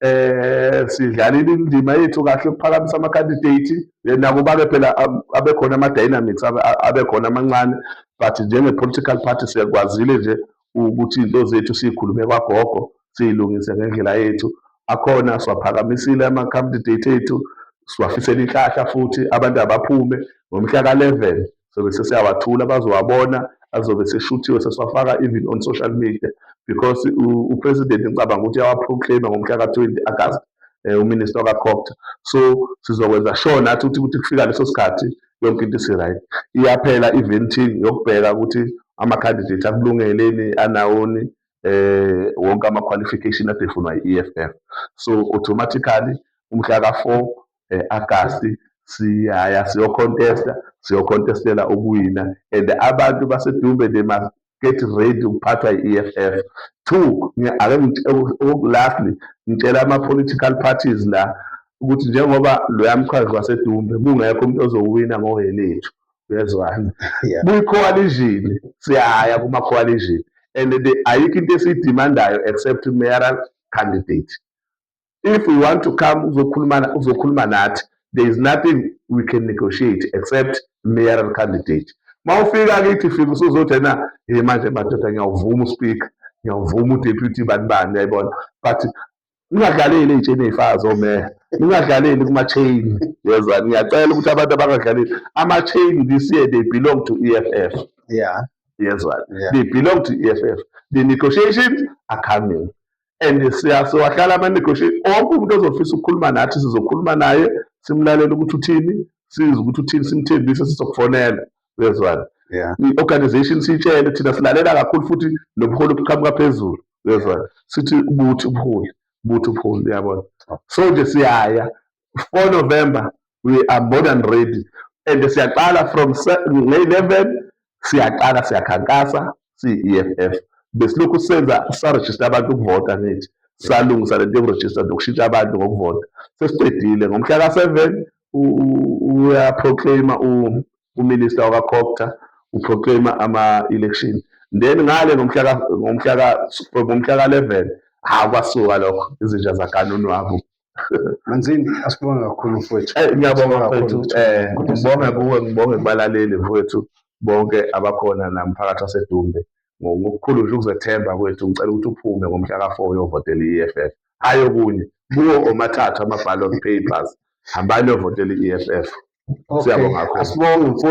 eh sidlalile indima yethu kahle ukuphakamisa ama candidate eh, nakuba ke phela um, abekhona ama dynamics abekhona amancane but njenge political party siyakwazile nje ukuthi into zethu sikhulume kwagogo siyilungise ngendlela yethu akhona siwaphakamisile ama candidate ethu siwafisela inhlahla futhi abantu abaphume ngomhla ka 11 sobe sesiyawathula bazowabona azobe seshuthiwe sesiwafaka even on social media because upresident ngicabanga ukuthi uyawaproclaima ngomhla ka-20 agast um eh, uminister wakakhokta so sizokwenza sure nathi ukuthi ukuthi kufika leso sikhathi yonke into isi-right iyaphela i-venting yokubheka ukuthi ama-candidate akulungeleni anawoni eh wonke ama-qualification adefunwa yi-EFF so automatically umhla ka-4 eh, Agasti siyaya siyocontesta siyocontestela ukuwina and abantu basedumbe they must get ready ukuphathwa yi-EFF two ake lastly ngitshela ama-political parties la ukuthi njengoba loya mchazi wasedumbe kungekho umuntu ozowina ngowelethu uyezwana kwi-coalition siyaya kuma-coalition and ayikho into esiyidimandayo except mayoral candidate if we want to come uzokhuluma uzokhuluma nathi there is nothing we can negotiate except mayoral candidate mawufika kithi fika usuzothi ena hey manje madoda ngiyawuvuma uspeaker ngiyawuvuma udeputy bani bani uyayibona but ningadlaleli ey'tsheni ey'fakazi omeya ningadlaleli kuma-chain yeza ngiyacela ukuthi abantu abangadlaleli ama-chain this year they belong to e f f yeah yezwa yeah. they belong to e f f the negotiations are coming and siyasewahlala ama-negotiate onke umuntu ozofisa ukukhuluma nathi sizokhuluma naye simlalele ukuthi uthini size ukuthi uthini simthembise sizokufonela uyezwana i-organization siyitshele thina silalela kakhulu futhi nobuholi obuqhamuka phezulu uyezwana sithi buthi ubuholi buthi ubuholi uyabona so nje siyaya 4 November we are more than ready and siyaqala from nge-11 siyaqala siyakhankasa siyi-EFF besilokhu senza sarejista abantu ukuvota ngithi salungisa lento yokurejista nokushintsha abantu ngokuvota sesiqedile ngomhla ka-seven uyaproclaima uminister wakakhokta uproclaima ama-election then ngale ngomhla ka-eleven hhawu kwasuka lokho izinja zakanonwabu Manzini asibonge kakhulu mfowethu. Eh, ngiyabonga mfowethu. Eh ngibonge kuwe ngibonge kubalaleli mfowethu bonke abakhona namphakathi waseDumbe ngokukhulu nje ukuzethemba kwethu ngicela ukuthi uphume ngomhla ka-4 uyovotela i-EFF hayi okunye kuwo omathathu ama-ballot papers hambani uyovotela i-EFF siyabonga kakhulu